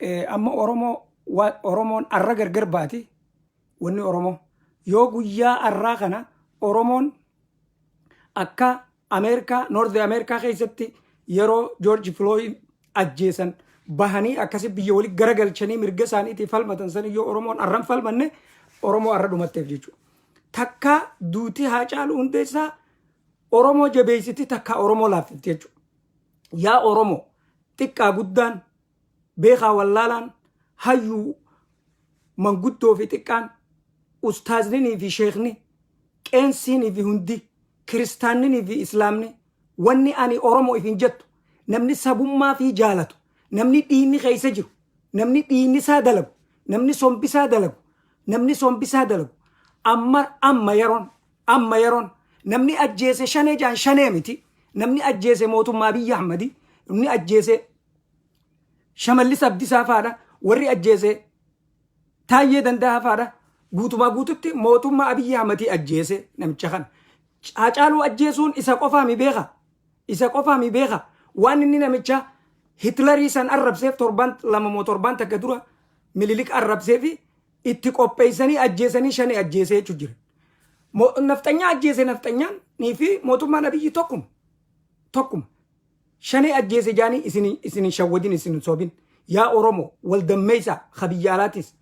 Eh, amma Oromoo wa- Oromoon arra gargar baate wanni Oromoo yoo guyyaa arraa kana Oromoon akka Ameerikaa Noorth Ameerikaa keessatti yeroo Joorji Filooyid ajjeesan bahanii akkasi biyya walitti garagalchanii mirga isaaniitii falmatan san yoo Oromoon arran falmanne Oromoo arra dhumatteef jechuudha. Takka duuti haa caalu hundeessaa Oromoo jabeessiti takka Oromoo laaffifti jechuudha. Yaa Oromo, xiqqaa guddaan, beekaa wallaalaan, hayyuu, manguddoo fi xiqqaan, ustaazninii fi sheekni, qeensiinii fi hundi, kiristaanninii fi islaamni, wanni ani Oromo ifin jettu, namni sabummaa fii jaalatu, namni dhiiyni keessa jiru, namni dhiiyni isaa dalagu, namni sombi isaa dalagu, namni sombi isaa dalagu, amma, amma yaroon, Amma yeroon namni ajjeese shanee jaan shanee miti namni ajjeese mootummaa biyya ahmadi namni ajjeese shamallis abdisaa faadha warri ajjeese taayyee danda'a faadha guutumaa guututti mootummaa abiyyi ahmadii ajjeese namicha kana haacaaluu ajjeesuun isa qofaa mi beeka isa qofaa mi beeka waan inni namicha hitlarii san arrabseef torban lama moo torban takka dura mililik arrabsee fi itti qopheessanii ajjeesanii shane ajjeesee jechuun jira. Mo- Nafxanyaa ajjeese nafxanyaan nii fi mootummaan abiyyi tokkuma. Tokkuma. Shanee ajjeese jaanii isin isin hin shawwadin isin hin sobin. Yaa Oromoo wal dammeessa ha biyya alaatis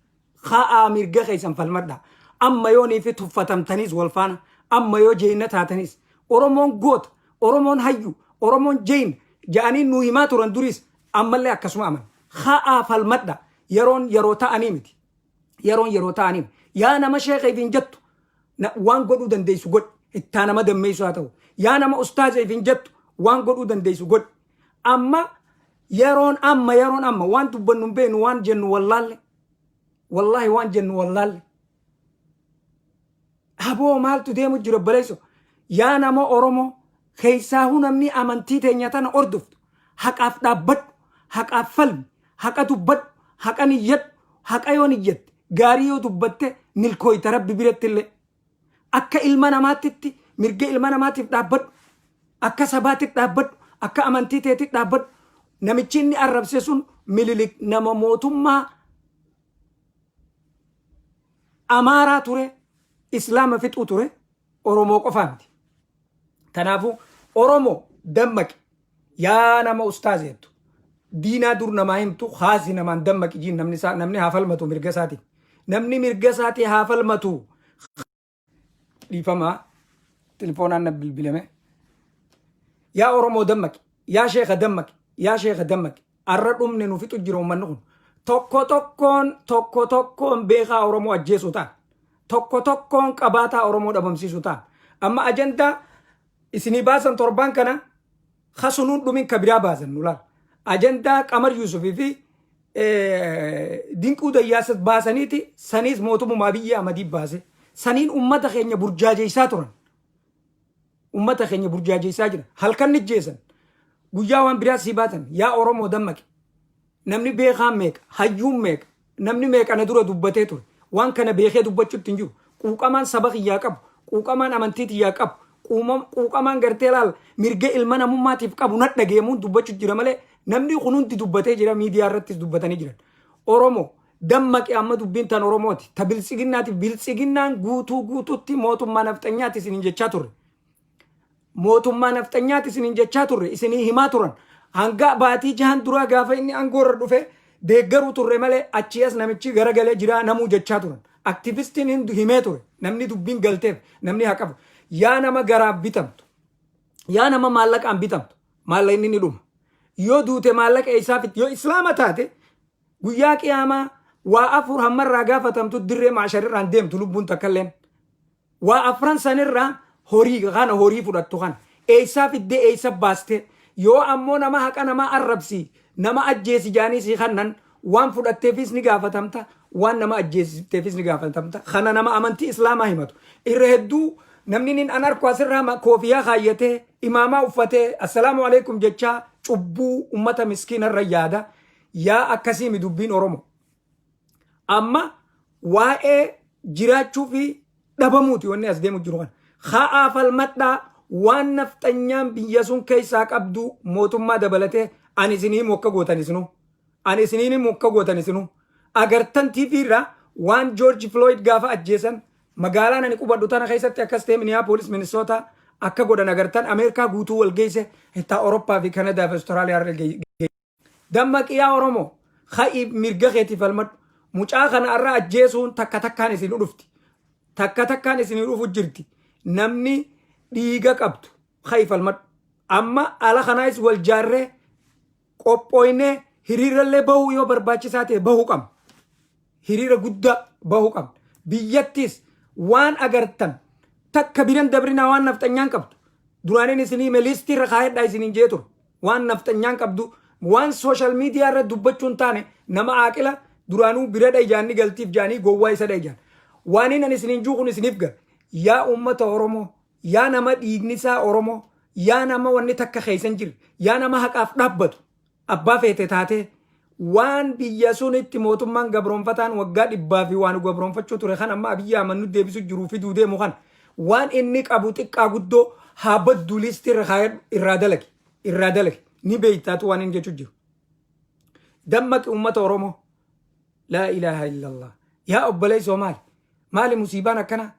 ha'aa mirga keessan falmadha. Amma yoo nii fi tuffatamtaniis wal faana amma yoo jeyna taatanis Oromoon goota Oromoon hayyu Oromoon jeyna ja'anii nu himaa turan duris ammallee akkasuma aman. Ha'aa falmadha. Yeroon yeroo ta'anii miti. Yeroon yeroo ta'anii miti. Yaa nama sheekha ifiin jettu na- waan godhuu dandeessu godhi. Ittaa nama dammeessu haa ta'u. Yaa nama ustaaza ifiin jettu waan godhuu dandeessu godhi. Amma yeroon amma yeroon amma waan dubbannu hin beeknu waan jennu wallaalle. Wallaahi waan jennu wallaalle. Aboo maaltu deemu jira obboleesso? Yaa nama Oromoo, keessaahuu namni amantii teenya tana hordoftu, haqaaf dhaabbadhu, haqaaf falmi, haqa dubbadhu, haqan iyyadhu, haqa yoo iyyatte, gaarii yoo dubbatte milkooyta Rabbi birattillee. Akka ilma namaattitti mirga ilma namaatiif dhaabbadhu, akka sabaatitti dhaabbadhu, akka amantii teetitti dhaabbadhu. Namichi inni arrabse sun Mililik nama mootummaa Amaaraa ture, Islaama fixuu ture, Oromoo qofaa miti. Kanaafuu Oromoo dammaqi yaa nama ustaaz jettu diinaa dur namaa himtu haasi namaan dammaqi jiin namni isaa namni haa falmatu mirga isaatiin. Namni mirga isaatii haa falmatu. dhiifama telefoonaan na bilbilame yaa oromoo dammaqi yaa sheeka dammaqi yaa sheeka dammaqi arra dhumne nu fixu jira ummanni kun tokko tokkoon tokko tokkoon beekaa oromoo ajjeesuu ta'an tokko tokkoon qabaataa oromoo dhabamsiisuu ta'an amma ajandaa isinii baasan torbaan kana ha sunuu dhumin ka biraa baasannu laal ajandaa qamar yuusuf fi dinquu dayyaasas baasaniiti saniis mootummaa biyya amadii baase saniin ummata keenya burjaajeessaa turan ummata keenya burjaajeessaa jira halkan nijjeessan guyyaa waan biraa sii baatan yaa oromoo dammaqi Namni beekaan meeqa? Hayyuun meeqa? Namni meeqa na dura dubbatee ture? Waan kana beekee dubbachuutti hin jiru. Quuqamaan saba kiyyaa qabu, quuqamaan amantii tiyyaa qabu, quumam, quuqamaan gartee laal mirga ilma namummaatiif qabu na dhageemuun dubbachu jira malee namnii kun hundi dubbatee jira miidiyaa irrattis dubbatanii jiran. Oromo, dammaqi amma dubbiin tan Oromooti, ta biltsiginnaati, biltsiginnaan guutuu guutuutti mootummaa nafxanyaati isiniin jechaa turre. mootummaa nafxanyaati isiniin jechaa turre isinii himaa turan hanga baatii jahan duraa gaafa inni angoorra dhufe deeggaruu turre malee achii as namichi garagalee jiraa namuu jechaa turan aktivistiin hin himee ture namni dubbiin galteef namni haa qabu yaa nama garaaf bitamtu yaa nama maallaqaan bitamtu maallaqa inni ni dhuma yoo duute maallaqa eessaa fit yoo islaama taate guyyaa qiyaamaa waa afur hammarraa gaafatamtu dirree maasharirraan deemtu lubbuun takkalleen Waa afran san irra horii kana horii fudhattu kana eessaa fiddee eessa baastee yoo ammoo nama haqa namaa arrabsi nama ajjeesi jaanii sii kannan waan fudhatteefiis ni gaafatamta waan nama ajjeesifteefis ni gaafatamta kana nama amantii islaamaa himatu irra hedduu namni nin an arku asirraa ma- koofiyaa kaayyatee imaamaa uffatee assalaamu alaikum jechaa cubbuu ummata miskiina irra yaada yaa akkasiimi dubbiin oromo Amma waa'ee jiraachuu fi dhabamuuti wanni as deemu jiru kana. Ka'aa falmadhaa waan nafxanyaan biyya sun keessaa qabdu mootummaa dabalatee ani isin himu akka gootan isinu. Ani isin himu akka gootan isinu. Agartan TV irraa waan George Floyd gaafa ajjeesan magaalaan ani qubadhu tana keessatti akkas ta'e Minneapolis, Minnesota akka godhan agartan Ameerikaa guutuu wal geesse hittaa Awurooppaa fi Kanadaa fi Austraaliyaa irra geesse. Dammaqi yaa Oromo! Ka'i mirga keetiif falmadhu! Mucaa kana har'a ajjeesuun takka takkaan isinuu dhufti. Takka takkaan isinii dhufu jirti. Namni dhiiga qabdu ka'i falmadhu. Amma ala kanaayis wal jaarree qophooynee hiriirrallee bahuu yoo barbaachisaa ta'e bahuu qabna. hiriira guddaa bahuu qabna. Biyyattiis waan agartan takka biran dabrinaa waan nafxanyaan qabdu duraanin isin hime liistii irra kaayadhaa isiniin jee ture. Waan nafxanyaan qabdu waan sooshaal miidiyaa irra dubbachuu hin taane nama aaqila duraanuu biradha ijaanni galtiif jaanii gowwaa isadha ijaan. Waaniin ani isiniin juu kun isiniif gale. Yaa uummata Oromoo, yaa nama dhiigni isaa Oromoo, yaa nama wanni takka keessa hin jirre, yaa nama haqaaf dhaabbatu. Abbaa feete taatee, waan biyya sunitti mootummaan gabroomfataan waggaa dhibbaa fi waa nu gabroomfachuu ture kan amma Abiy Ahmad nu deebisu jiruu fiduu deemu kana waan inni qabu xiqqaa guddoo haa badduu liistii irra kaayadhu irraa dalagi irraa dalagi ni beeytaatu waan inni jechuu jiru. Dammaqi uummata Oromoo. Laa ilaaha illallah. Yaa obboleessoo maali? Maali musiibaan akkanaa?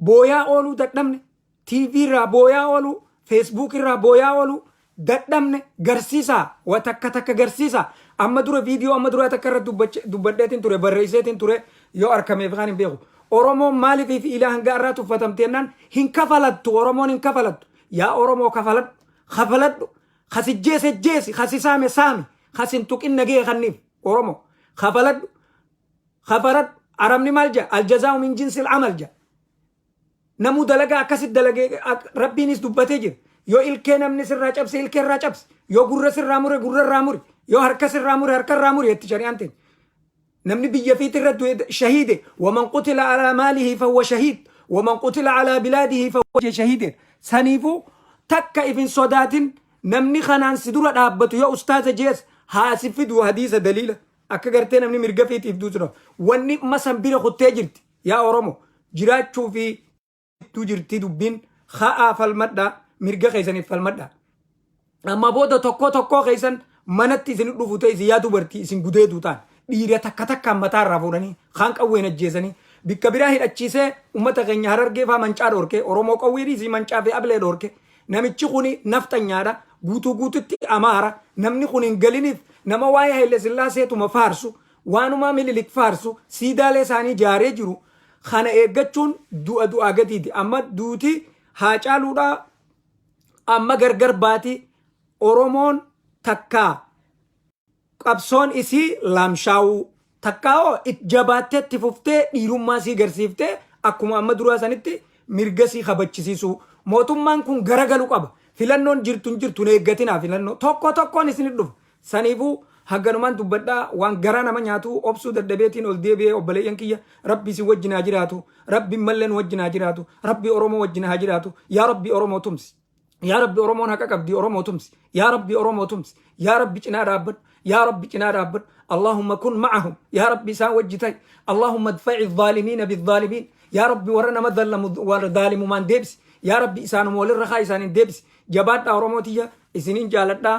Booyaa ooluu dadhabne? TV irraa booyaa oolu, Facebook irraa booyaa oolu, dadhabne garsiisa, wa takka takka garsiisa. Amma dura viidiyoo amma duraa takka irratti dubbache- dubbadheetiin ture, barreesseetiin ture yoo arkameef kan hin beeku. Oromoon maaliif fi ilaa hanga irraa tuffatamteennaan hin kafalattu, Oromoon hin kafalattu. Yaa Oromoo kafaladhu, kafaladhu, kasijjeese jeesi, kasisaame saami, kasin tuqin nagee kanniif, Oromoo, kafaladhu, kafaladhu, arabni maal jedha? Aljazaa'u min jinsil amal jedha. Namuu dalagaa akkasitti dalagee rabbiinis dubbatee jira. Yoo ilkee namni sirraa cabse ilkee irraa cabse. Yoo gurra sirraa mure gurra irraa muri. Yoo harka sirraa mure harka irraa muri jetti shari'aan teenya. Namni biyya fiiti irra du'e shahiide waman qutila alaa maalihi fawwa shahiid waman qutila alaa bilaadihi fawwa jee shahiide. Saniifuu takka ifin sodaatin namni kanaan si dura dhaabbatu yoo ustaaza jees haa si fidu hadiisa daliila. Akka gartee namni mirga fiitiif duutu wanni masan bira kuttee jirti. Yaa oromo jiraachuu fi tu jirtii dubbiin ka'aa falmadhaa mirga keessaniif falmadhaa amma booda tokkoo tokkoo keessan manatti isin dhufu ta'e isin yaa dubartii isin gudeeduu ta'an dhiira takka takkaan mataa irraa fuudhanii kaan qawween ajjeesanii bikka biraa hidhachiisee ummata keenya harargee faa mancaa dhorke oromoo qawwee dhiisii mancaa fi ablee dhorke namichi kuni nafxanyaadha guutuu guututti amaara namni kun hin galiniif nama waa'ee haile sillaaseetuma faarsu Waanumaa Mililik faarsu siidaalee isaanii ijaaree jiru kana eeggachuun du'a du'aa gadiiti. Amma duuti Haacaaluudhaa amma gargar baati Oromoon takkaa qabsoon isii laamshaawuu takkaa hoo it jabaattee itti fuftee dhiirummaa isii garsiiftee akkuma amma duraa sanitti mirga isii kabachisiisuu. Mootummaan kun garagalu qaba. Filannoon jirtu hin jirtu hin eeggatinaa filannoo. Tokko tokkoon isinit dhufa. Saniifuu haganumaan dubbadha waan garaa nama nyaatu obsuu dadhabeetiin ol deebi'e obboleeyyan kiyya rabbi isin wajjin haa jiraatu rabbi mallee nu wajjin haa jiraatu rabbi oromoo wajjin haa jiraatu yaa rabbi oromoo tumsi yaa rabbi oromoon haqa qabdi oromoo tumsi yaa rabbi oromoo tumsi yaa rabbi cinaa dhaabbadhu yaa rabbi cinaa dhaabbadhu allahumma kun ma'ahum yaa rabbi isaan wajji ta'i allahumma dfa'i dhaalimiina bidhaalimiin yaa rabbi warra nama dhallamu warra dhaalimumaan deebisi yaa rabbi isaanuma walirra haa isaaniin deebisi jabaadhaa oromoo tiyya isiniin jaaladhaa